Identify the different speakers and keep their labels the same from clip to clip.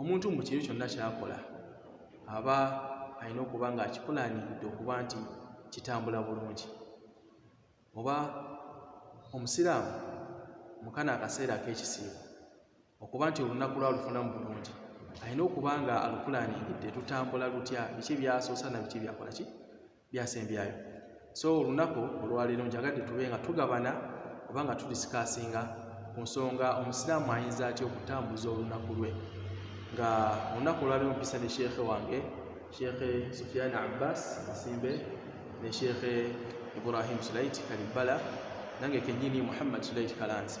Speaker 1: omuntu mu kiri kyonna kyakola aba alina okuba nga akipulaaniridde okuba nti kitambula bulungi oba omusiraamu mukana akaseera ak'ekisiibo okuba nti olunaku lwalufunamu bulungi alina okuba nga alupulaaniridde lutambula lutya biki byasoosa na biki byakola ki byasembyayo so olunaku olwaleero njagadde tube nga tugabana oba nga tudisikasinga ku nsonga omusiraamu ayinza atya okutambuza olunaku lwe nga olunaku olwaleero mpisa ne sheekhe wange sheekhe sufiani abbas masimbe ne sheekhe ibrahim sulaiti kalibbala nange kenyini muhammad sulaiti kalanzi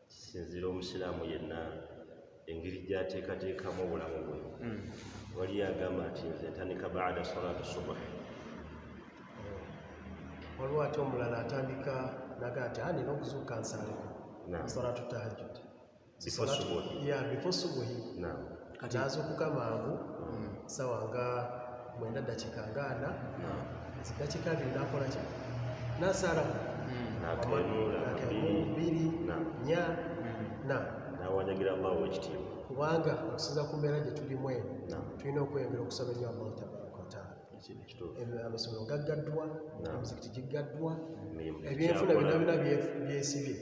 Speaker 2: kisinziira omusiraamu yenna engeri gyateekateekamu obulamu bwe hmm. wali agamba nti nze ntandika baada salatu subuhi
Speaker 3: waliwo ate omulala atandika naga nti ani nokuzuuka nsaleko salatu tahajud before subuhi kati azukuka mangu hmm. sawa nga mwenda dakika nga ana dakika abiri nakola ki nasala biri nya na
Speaker 2: nawanyagira allah owekitiibwa kubanga okusinza
Speaker 3: ku mbeera gye tulimu eno tulina okweyongera okusaba ennyo allah tabaraka wataala amasomero gaggaddwa emizikiti giggaddwa ebyenfuna byonna byona byesibye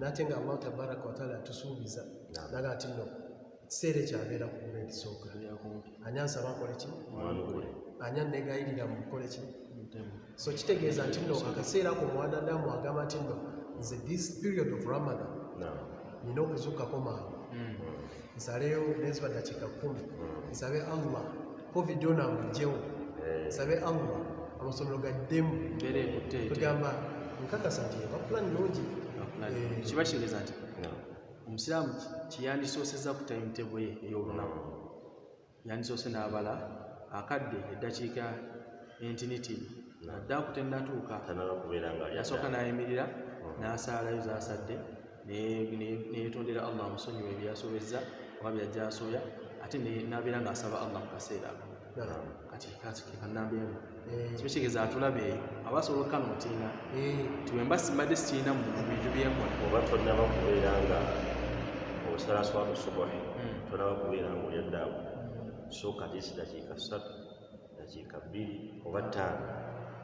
Speaker 3: nate nga allah tabaraka wataala atusuubiza naga nti no kiseera ekyo abeera ku grade sooka ani ansaba nkole ki ani annegayirira mu kukole ki so kitegeeza nti no akaseera ko mwanadamu agamba nti no nze this period of ramadan nina okuzukkako mangu hmm. nsaleyo neziba dakiika kumi hmm. nsabe allah covid ona amugyewo eh. nsabe allah amasomero gaddemu tugamba nkakasa nti eba plan nungi eh, kiba
Speaker 1: kitegeeza nti omusiraamu kyeyandisooseza ku timetable ye ey'olunaku yandisoose n'abala akadde eddakiika entinitini adde akutenatuuka yasooka n'ayimirira hmm. n'asaalayo zaasadde neyetondera allah amusonyiwa ebyasobezza oba byajja asooya ate nabeera ng'asaba allah mu kaseera ako kati kati kanamba emu eh. kiba kigeza atulaba eyo aba asobola okukana otinga eh. nti wemba simbadde sikirina mu bintu byenkola oba tonaba kubeera
Speaker 2: nga osala swatu subuhi hmm. tonaba kubeera nga olya ddaawo hmm. sooka tisi dakiika ssatu dakiika bbiri oba ttaano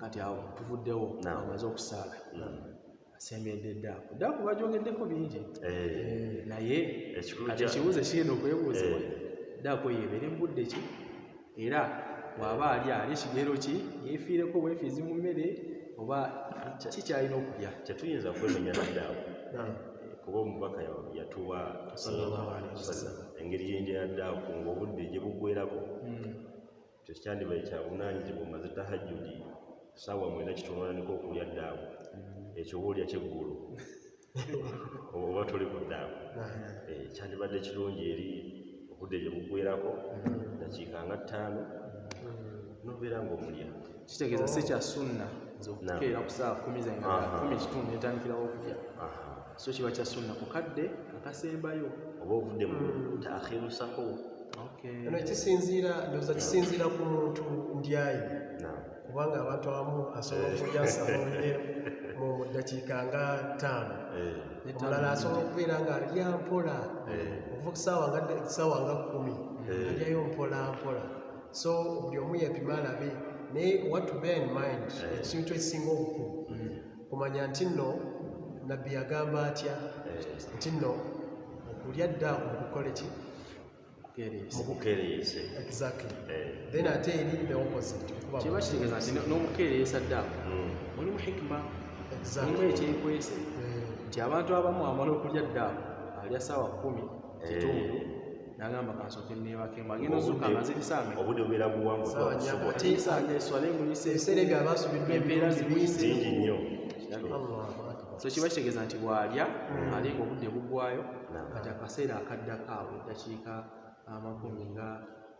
Speaker 1: kati awo tuvuddewo amaze okusaala asembedde eddaaku eddaaku bajogeddeko bingi eh. naye kati ekibuuzo ekigenda okwebuuzibwa eh. eddaaku eyo ebeere mu budde ki era waaba ali ali kigero ki yefiireko bwefiizi mu mmere oba kikyalina okulya tetuyinza kwemenya
Speaker 2: naddaaku kuba omubaka yatuwa engeri yenjayadde akunga obudde gye buggwerako hmm. tekyandibaye kyabunanyizibwa omaze tahajudi saawa mwena kitonaniko okulya ddaawo mm. ekyo obaolya kyeggulu oba toli ku ddaawo eh, kyandibadde kirungi eri obudde gye bugwerako mm. dakiika nga ttaano mm. nobeera ngaomulya kitegeeza si kya
Speaker 1: sunna nze okukeera ku saawa kumi zange kumi kitundu netandikirawo okulya so kiba kya sunna ku kadde akasembayo oba ovudde mu
Speaker 2: hmm. taakhiru sahu eno
Speaker 3: kisinziira ndoza kisinziira ku muntu ndyayi kubanga abantu abamu asobola eh. okulya sahuye mu ddakiika nga ttaano eh. omulala asobola okubeera nga alya mpola eh. okuva kusaawa nga kumi alyayo mpola mpola so buli omu yepima alabe naye what to bear in mind ekintu ekisinga obukulu hmm. okumanya nti nno nabbi yagamba atya eh. nti nno okulya ddaaku mukukole ki mukukeereyese
Speaker 2: exactly eh.
Speaker 3: then ate eri the opposite kiba kitegeeza nti
Speaker 1: n'okukeereyesa ddaaku hmm. mulimu hikima mulimu ekyekwese eh. nti abantu abamu amala okulya ddaaku alya saawa kumi kitundu eh. nagamba kansoke nebakemba agenda ozuka amazirisanga obude obera buwangu
Speaker 2: twasobola eswala emuyise
Speaker 1: eserega abasubiddwa
Speaker 3: embeera zimuyise
Speaker 1: ngi nnyo so kiba kitegeeza nti bwalya hmm. alinga obudde bugwayo kati akaseera akaddako awo eddakiika amakumi nga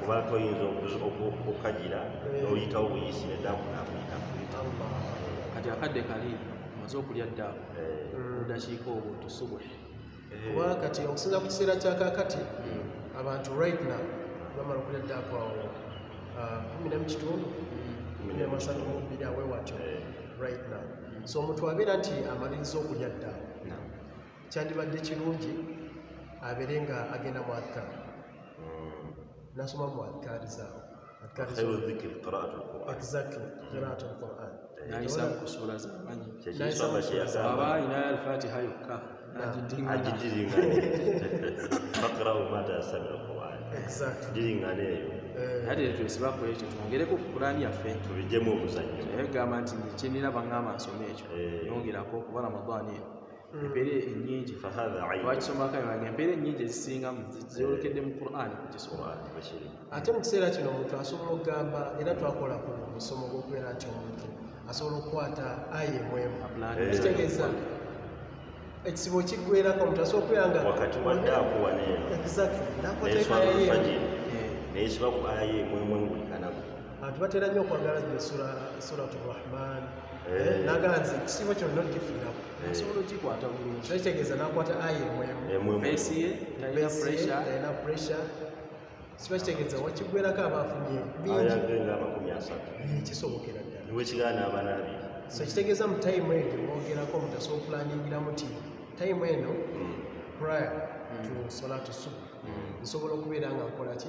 Speaker 2: kuba toyinza okukagira eh. noyitawo buyisi nedaku nakuyita kati
Speaker 1: akadde kali maze okulya ddaku eh. odakiika obwo tusubule eh. kuba
Speaker 3: kati okusinza ku kiseera kyakakati hmm. abantu right now bamala okulya ddaku awo ah, kumi nemu kitundu hmm. kumi nemasatu mubiri awe watyo right now so omuntu abeera nti amaliriza okulya ddaku kyandibadde kirungi abeere nga agenda mu adkar hmm. nasoma
Speaker 1: mu adkari
Speaker 2: zaawo
Speaker 1: twongereko ku kurani yaffe tubijemu omuzanyo
Speaker 2: naye gamba nti
Speaker 1: kyenira baŋŋamba nsoma ekyo eh. yongerako kuba ramadani eno empeera ennyingi fahadha lwakisomaka yange empeera ennyingi ezisingamu zyolekedde mu quran kukisoa ate mu
Speaker 3: kiseera kino omuntu asobola okugamba era twakola ku musomo gwokubeera nti omuntu asobola okukwata aye mwemu kitegeeza ekizibu kigwerako omuntu asobola okubeera nga wakati wadde akuwa
Speaker 2: neyo naye kiba ku aye mwemu buli kanaku abantu batera nnyo
Speaker 3: okwagala zino suratu rahman Eh. nagala nze ekisiibo kyonna okifiirako eh. nsobola okikwata
Speaker 1: bulungi so kitegeeza nakwata ayi
Speaker 3: emwemubesiye
Speaker 1: talina pressure siba
Speaker 3: kitegeeza wakigwerako aba afunye bingikisobokera ddalawekigaana abaana
Speaker 2: abiri so kitegeeza mu
Speaker 3: time eyo gyemwogerako mutasa okulaningira muti time eno hmm. prior to hmm. sola to suba hmm. nsobola okubeera nga nkolaki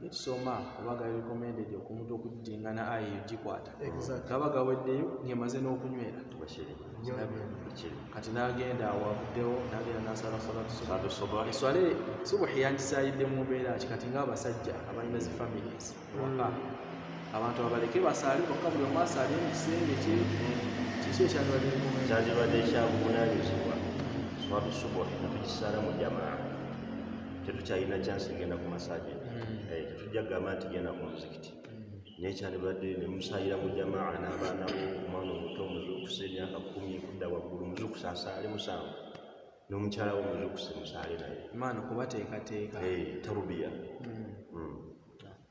Speaker 1: netusoma oba gaba recommended okumutwa okudingana aya eyo gikwata gaba gaweddeyo ngemaze n'okunywera kati nagenda awavuddewo nagenda nasala salatuswale subuhi yangisayidde mu mbeera ki kati ngaabasajja abalina zi families waka hmm. abantu abaleke basaale bokka buli omu asaale mu kisenge kye kiki ekyandibadde
Speaker 2: ekyabuvunanyizibwa swatusubuhi natugisala mu jamaa tetukyalina kyansi egenda ku masaje hmm. eh, tetujja kugamba nti genda ku muzikiti hmm. naye kyalibadde nemusayira mu jamaa n'abaana bo omwana omuto muzukusa emyaka kumi kudda waggulu muzukusa asaale musanvu n'omukyala wo muzukusa musaale naye maana kubateekateeka
Speaker 1: eh, tarubiya
Speaker 2: hmm.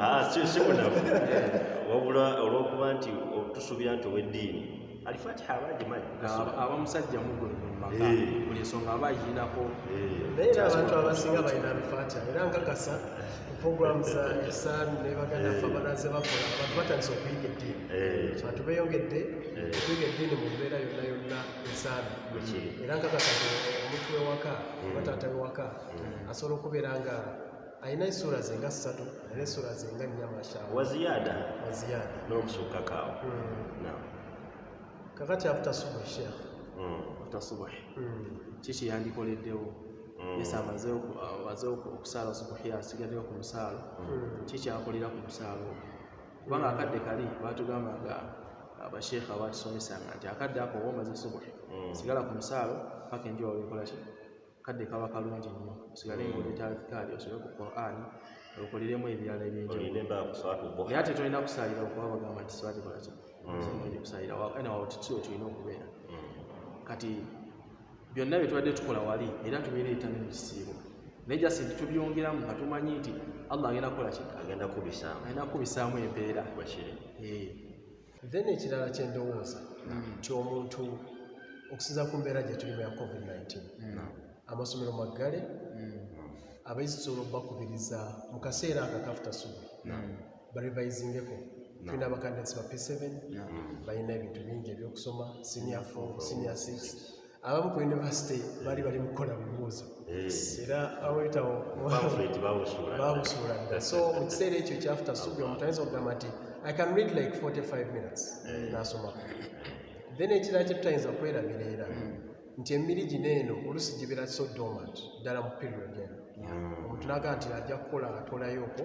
Speaker 2: Ah, wabula olwokuba nti tusuubira nti oweddiini alifatiha aba agimanyi aba musajja
Speaker 1: mugulu mumaka eh. buli ensonga aba agirinako eh. naye era
Speaker 3: abantu abasinga balina alifatiha era nkakasa program za isan nebaganda fe eh. banaze bakola abantu batandise okuyiga eddiini abantu beyongedde okuyiga eddiini mu mbeera yonna yonna ensaabi era nkakasa omuntu wewaka mm. oba taata wewaka mm. asobola okubeera nga alina esuula ze nga ssatu alina esuula ze nga nnya mashaa waziyada
Speaker 2: waziyada n'okusukkakaawo mm.
Speaker 1: kakati afuta subuhi sheekh afuta subuhi
Speaker 3: kiki
Speaker 1: yandikoleddewo yesa amaze okusala subuhi asigaddewo ku musaalo kiki akolera ku musaalo ogwo kubanga akadde kali batugamba nga abasheekha abatusomesanga nti akadde ako oba omaze subuhi mm. sigala ku musaalo paka enjuba wekolaki kadde kaba kalungi nnyo osigale nga oleeta alfikaali osobe ku quran okoliremu ebirala ebyenjawulonaye ate tolina kusaalira okuba bagamba nti sibatikola ki mm. kusaalira ena wawotitio tulina okubeera mm. kati byonna bye tubadde tukola wali era tubireeta ne mu kisiibo naye jasi nti tubyongeramu nga tumanyi nti allah agenda kukola ki agenda kubisaamu agenda kubisaamu empeera eh. then
Speaker 3: ekirala kyendowooza hmm. nti omuntu okusinza ku mbeera gye tulimu ya covid-19 hmm. amasomero maggale hmm. abayizi tusobola okubakubiriza mu kaseera akakafuta subi barivayizingeko tulina abakandidats ba p7 balina ebintu bingi ebyokusoma senior 4 senior 6 abamu ku university bali bali mukukola bibuuzo era awetawo babusuula dda so mu kiseera ekyo kyafuta subi omuntu ayinza okugamba nti i can read like 45 minutes nasomako then ekirala kyetutayinza kwerabira era nti emiri gino eno olusi gibera so dormant ddala mu period eno hmm. omuntu naga nti ajja kukola atolayo okwo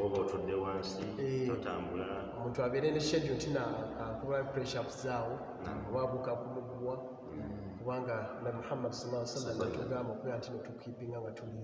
Speaker 3: oba otudde
Speaker 2: wansi eh, totambula omuntu abeere ne
Speaker 3: schedule nti nakuba pressups zaawo hmm. oba abuka kumuguwa hmm. kubanga na muhammad salaa sallam atugamba okubeera nti netukipinga nga tuli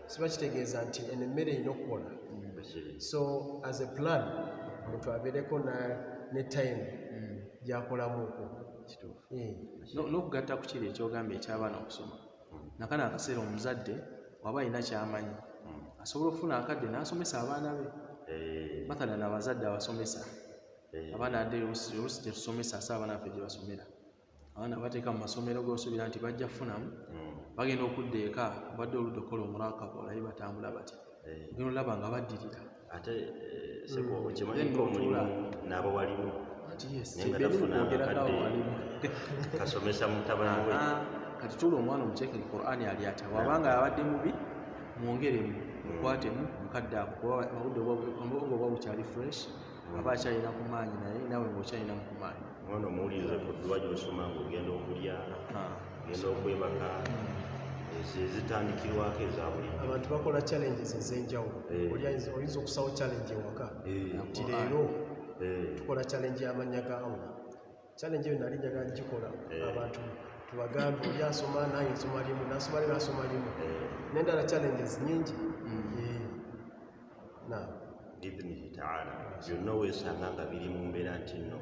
Speaker 3: siba kitegeeza nti eno emmere erina okukola mm. so as a plan omuntu abeereko ne time mm. gyakolamuko eh.
Speaker 1: n'okugatta ku kiri ekyogamba eky'abaana okusoma mm. nakana akaseera omuzadde waba alina kyamanyi asobola okufuna akadde n'asomesa abaana be eh. mathala na abazadde abasomesa eh. abaana adde olusi gyetusomesa asa abaana ffe gyebasomera abaana bateeka mu masomero gosuubira nti bajja kufunamu hmm. bagenda okudda eka badde oludda okukola omurakaba olaye batambula batya eh. gena olaba nga baddirira ate eh,
Speaker 2: sekyokimanyiiko hmm. omulimu naabo waliwo kasomesa mutabani we ah, kati tula omwana
Speaker 1: omuteeke mu qurani ali atya wabanga abadde mubi mwongeremu hmm. mukwatemu mukadde ako kuba obudde obwa bukyali fresh aba akyalina ku maanyi naye nawe ngaokyalinamu ku maanyi omwana omuwuliriza ku
Speaker 2: dduwa gyosoma nga ogenda okulya ogenda okwebaka ezitandikirwako eza buli abantu bakola challenges
Speaker 3: ez'enjawulo eh. oyinza okusawo challenge ewaka eh. nti leero eh. tukola challenge y'amannya ga allah challenge eyo nali njaga ngikola abantu tubagambe oli asoma naye nsoma limu nasoma limu asoma limu nendala challenges nyingi mm.
Speaker 2: biidhnihi taala byonna weesanga nga biri mu mbeera nti nno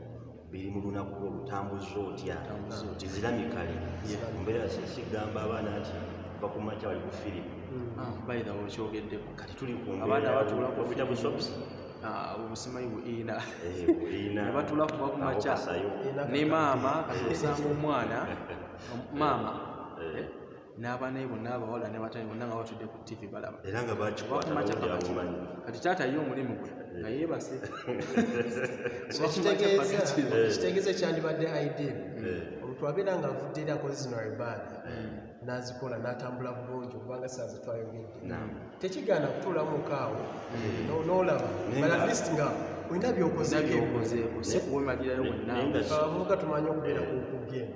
Speaker 2: biri mu lunaku olutambuza otya nti ziramikale mbeera sikigamba abaana nti va ku makya bali ku firimu hmm. ah, bayina
Speaker 1: okyogeddeko kati tuli ku abaana
Speaker 2: batuula ku firimu
Speaker 1: busobusi
Speaker 2: obusimanyi
Speaker 1: buina nebatula kuba ku makya ne maama kati osanga omwana maama eh. n'abaana be bonna abawala ne batali bonna nga batudde ku ttivi balaba era nga
Speaker 2: bakikwataomumanyi kati taata ye
Speaker 1: omulimu gwe eh. nga yeebase
Speaker 3: kitegeeza ekyandibadde eh. idea eh. olutwabeera nga avudde eri akoze zino ibaada nazikola natambula bulungi okubanga saazi twayogedde tekigaana kutuulamu mukaawo nolaba balist nga olina byokozeeko sikuwemalirayo
Speaker 1: wonna abavubuka tumanyi
Speaker 3: okubeera ku kugenda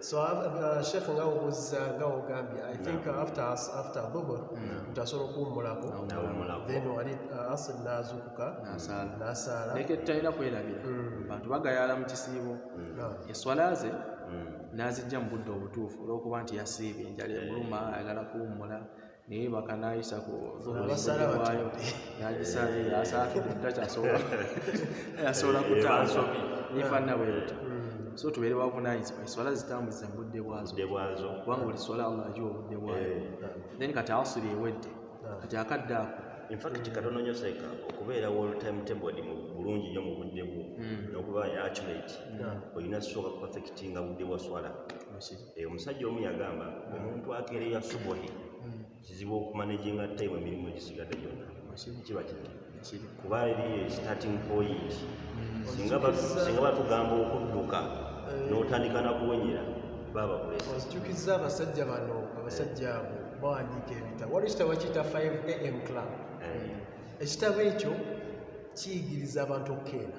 Speaker 3: So uh, Sheikh nga obuza nga ogambye I think no. after after dhuhur mm. mtasobola kuwummulako no. then wali uh, asr nazukuka nasaala leke tutalina
Speaker 1: kwerabira mm. bantu bagayala mu kisiibo mm. no. eswala ze mm. nazijja mu budde obutuufu olwokuba nti yasiibye enjala emuluma ayagala kuwummula naye bakanayisa ku zuhuriwayo nagisaze yasaakyasobola yasobola kutaso nifanna bwebuta so tubeere bavunanyizibwa eswala zitambuza mu budde bwazo kubanga buli swala allah agiwa obudde bwayo eh. then kati asiri ewedde kati akadde ako infact katono
Speaker 2: nyo seka okubeera wall time table mu bulungi nyo mu budde bwo hmm. nokuba accurate hmm. olina soka perfectinga budde bwa swala eh, omusajja omu yagamba omuntu akereya subuhi hmm. kizibu okumanejinga time emirimu egisigadde gyonna kiba kiri kuba eriyo starting point hmm. singa batugamba okudduka eh. n'otandika nakuwenyera babakulesakikiza
Speaker 3: abasajja bano abasajja abo bawandiika ebitabo waliwo ekitabo kiyita 5 am club eh. ekitabo ekyo kiyigiriza abantu okukeera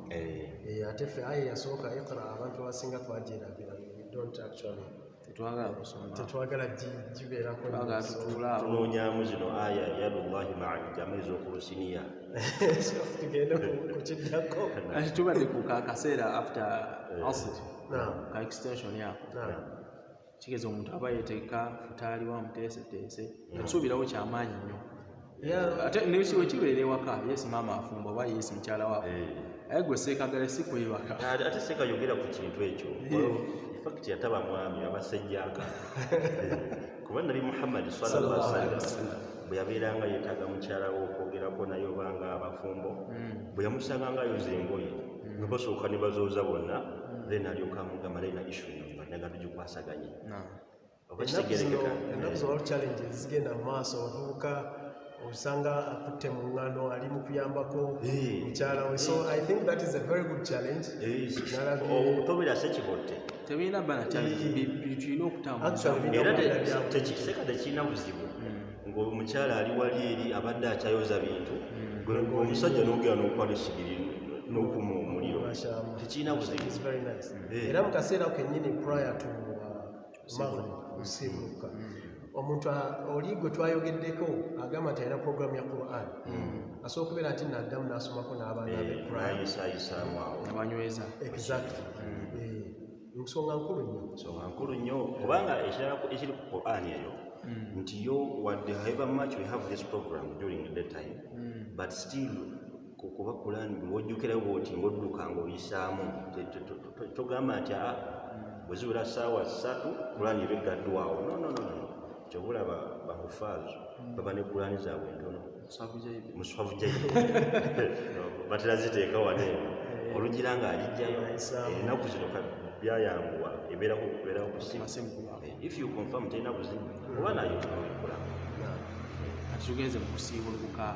Speaker 3: eh. Eh, ate ffe ayi yasooka iqra abantu abasinga twajerabira don't actually tetwagala kusoma tetwagala gibeerako tunoonyamu
Speaker 2: zino aya yadullahi maa ljama ezokulusiniya
Speaker 3: tugende kukiddako ati tubadde
Speaker 1: ku kakaseera after eh. asr ka extension yako kigeza omuntu aba yeteeka futaali wa muteeseteese atusuubirawo kyamaanyi nnyo ate nekiwekibeera ewaka yesi maama afumba oba yesi mukyala wako eh. aye gwe seekagale si kwebaka ate seekayogera
Speaker 2: ku kintu ekyo eh. fakiti yataba mwami abasajjaka eh. kuba nabi muhammadi salalla sallam bwe yabeeranga yeetaaga mukyala we okwogerako naye obanga abafumbo hmm. bwe yamusanga nga ayoza engoye hmm. nga basooka ne bazooza bonna hmm. then alyoka amugamba naye na issuno bannaga tugikwasaganye
Speaker 3: ennaku zolalu challenge zigenda mu maaso abavubuka osanga akutte mu ŋŋano ali mu kuyambako mukyala we so i think that is a very good challenge
Speaker 2: okutobera sekibotte tebirina bana
Speaker 1: tulina okutambulaera
Speaker 2: tekiseka tekirina buzibu hmm. ngaomukyala ali wali eri abadde akyayoza bintu hmm. omusajja nogera nokwala esigiri n'okuma omuliro tekirina buzibu eh. era mu
Speaker 3: kaseera kenyini prior to uh, maghrib kusiimuka mm. omuntu oli gwe twayogeddeko agamba nti alina programu ya quran mm. asobola okubeera nti naddamu nasomako n'abaana be eh, qurananyweza
Speaker 2: exactly
Speaker 3: nsonga nkulu nnyo nsonga nkulu nnyo kubanga ekirala
Speaker 2: ekiri ku quran eyo mm. nti yo wadde however much we have this program during the time mm. but still kuba kulaani buli wojjukira bwoti ngaodduka ngaoyisaamu togamba nti a ah, bwezibula saawa ssatu kulaani eba eggaddwawo nononono kyobula bahufaazo hmm. baba ne kulaani zaabwe entono muswavu jaibu batera ziteeka wane eh. olugira nga alijjayo enaku zino byayanguwa ebeerako okubeera okusimu eh, if you confirm terina buzibu oba nayo tunoikula
Speaker 1: atugenze mukusiibulukuka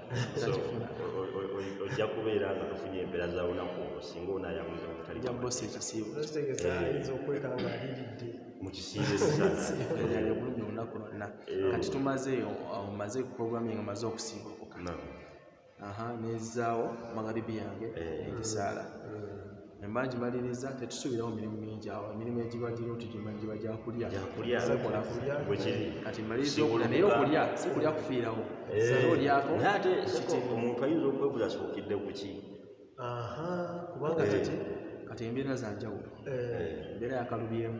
Speaker 2: ojja kubeera nga tufunye embeera za lunaku olwo singa onayamuza mutalijabosi ekisiibo mukisiibobulumi
Speaker 1: olunaku lwonna kati tumaze omaze programming omaze okusiibukuka nezaawo magharibi yange ekisaala eh. emala gimaliriza tetusuubirawo mirimu mingi awo emirimu egibagirwo tugimanyi giba gyakulya kati maliriza okulya naye okulya si kulya kufiirawo eh, olyako ate
Speaker 2: omuntu ayinza okwebuza asookidde ku ki
Speaker 3: kubanga eh. kati
Speaker 1: kati embeera zanjawulo eh. embeera yakalubyemu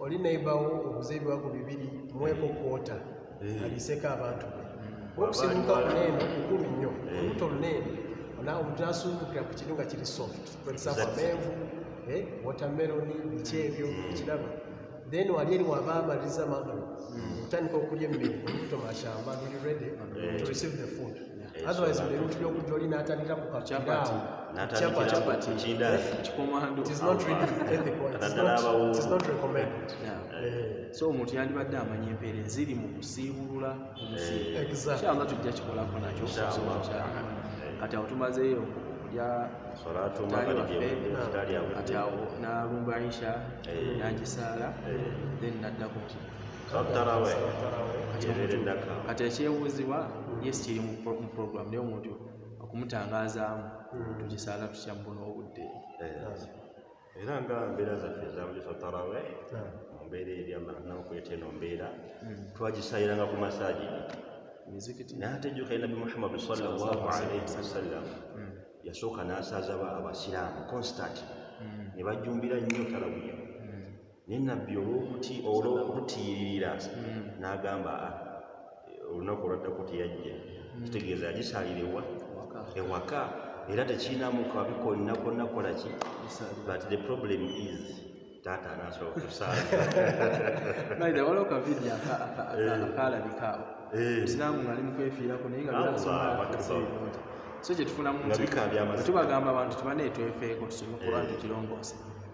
Speaker 3: oli neighbor wo obuze ebiwago bibiri mweko kwota eh. aliseko abantu be hmm. okusibuka kuneeno kukulu nnyo eh. olubuto luneeno omuntu nasuubukira ku kiri nga kiri soft kwegizaamu amenvu eh, watermeloni biki ebyo hmm. ekiraba then wali eri waba amaliza magalo hmm. otandika okulya emmere olubuto mashamba luli ready to receive the food otherwise mbere ufuna okujja oli n'atandika ku
Speaker 1: kakiraawo
Speaker 3: so
Speaker 1: omuntu yandibadde amanya empeera eziri mu kusiibulula omusiibukyanga eh. tujja kikolako nakyo kati awo tumazeeyo okulya kati awo n'alumba insha eh. n'agisaala eh. then naddako kati ekyebuuzibwa yes kiri mu program naye omuntu okumutangazaamu hmm. tukisaala tutya mubona obudde eh,
Speaker 2: era nga mbeera zaffe ezabuliso tarawe hmm. mu mbeera eryamanaokuleta eno mbeera hmm. twagisayiranga ku masaji natejuka nabi muhammadu salllahalaihi wasallam yasooka nasaazaba abasiraamu constant ne bajjumbira nnyo tarawiya naye nabbi olwokututiyiririra hmm. n'agamba ah, olunaku olwaddako teyajja hmm. kitegeeza yagisalirewa ewaka era tekirinamu kabi konna konna kola ki but the problem is taata anasobola kusaaliwaliwo
Speaker 1: kavidiyo akalabikaawo musiraamu ngaali mukwefiirako naye nga so kyetufunamu tubagamba abantu tubanetwefeeko tusome kuba tukirongoose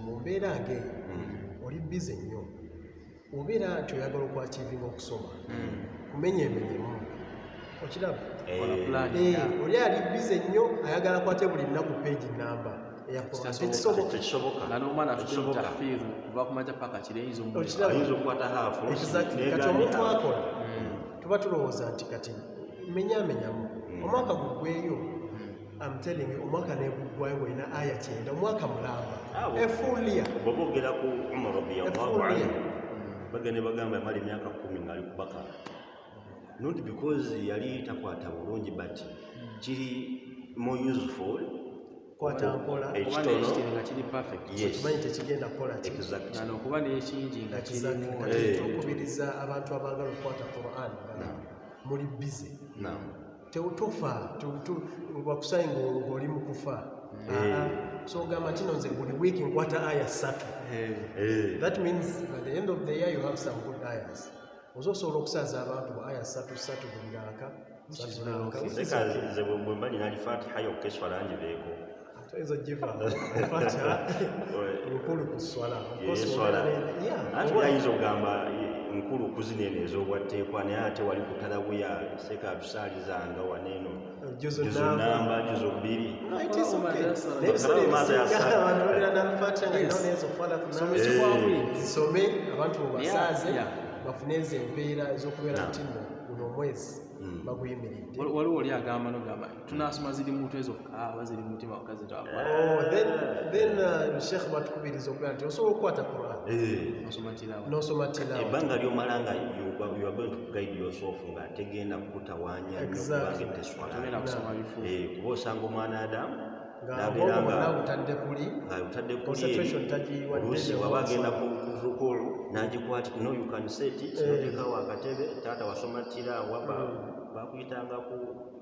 Speaker 3: mu mbeera ng'eyo hmm. oli bize nnyo obeera nti oyagala okwakivinga okusoma hmm. kumenya emenyemu okiraba eh. eh, oli ali bize nnyo ayagala kwate buli nnaku peegi namba
Speaker 1: kati omuntu akola
Speaker 2: hmm.
Speaker 3: tuba tulowooza nti kati menyamenyamu omwaka gugweyo I'm telling you omwaka neguggwayo ngolina aya kyenda omwaka mulamba efulia bwoba ogera ku
Speaker 2: umar radiyallahu anhu bagende bagamba yamala emyaka kumi ngaali ku bakara not because yali takwata bulungi but kiri more useful
Speaker 3: okuba
Speaker 2: nekingi
Speaker 1: nga kirimuokubiriza
Speaker 3: eh. abantu abagala okukwata quran muli bize tewutufa wakusayi ng'oli mu kufa eh. so ogamba kino nze buli wiiki nkwata aya ssatu eh. Eh. that means at the end of the year you have some good ayas oza osobola okusaaza abantu ba aya ssatu ssatu buli raaka
Speaker 2: nze bwemba nina alifatiha yokka eswala ngibeeko Tayinza
Speaker 3: kugivaamu Fatiha lukulu ku sswala.
Speaker 2: Anti yayinza okugamba nkulu kuzina eno ez'obwatteekwa naye ate wali ku talabuya seeka atusaalizanga waneeno juzu namba juzu bbiri zisome abantu
Speaker 3: mubasaaze bafune ezo empeera ez'okubeera nti no guno omwezi hmm. baguyimiridde waliwo oli agamba
Speaker 1: nogamba tunasoma ziri mutwe zokka aba ziri mutima wakka zitwakwatshekh
Speaker 3: oh, uh, batukubiriza okuga nti osobola okukwata quran eh. nosoma tilawaebbanga lyomala nga
Speaker 2: nga tegenda kukutawanya eh, kuba osanga omwana adamu
Speaker 3: nabeerangaautaddekululuusi
Speaker 2: waba agenda kukulu nagikwati no you can set it eh. notekawo akatebe taata wasoma tirawa mm. bakuyitanga ku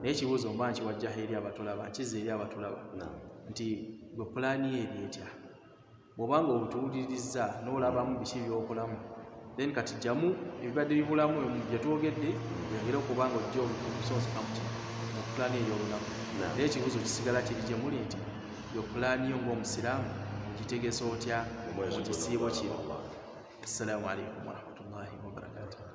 Speaker 1: naye ekibuuzo mba nkiwajjaho eri abatulaba nkiza eri abatulaba nti gwe pulaani eri etya bwobanga obutuwulirizza n'olabamu biki byokolamu then kati jjamu ebibadde bibulamu byetwogedde yongere okuba nga ojja omusonsokamuki mu pulaani eri olunaku naye ekibuuzo kisigala kiri gye muli nti yo pulaani yo ng'omusiraamu ogitegesa otya mu kisiibo kino assalamu alaikum warahmatullahi wabarakatuh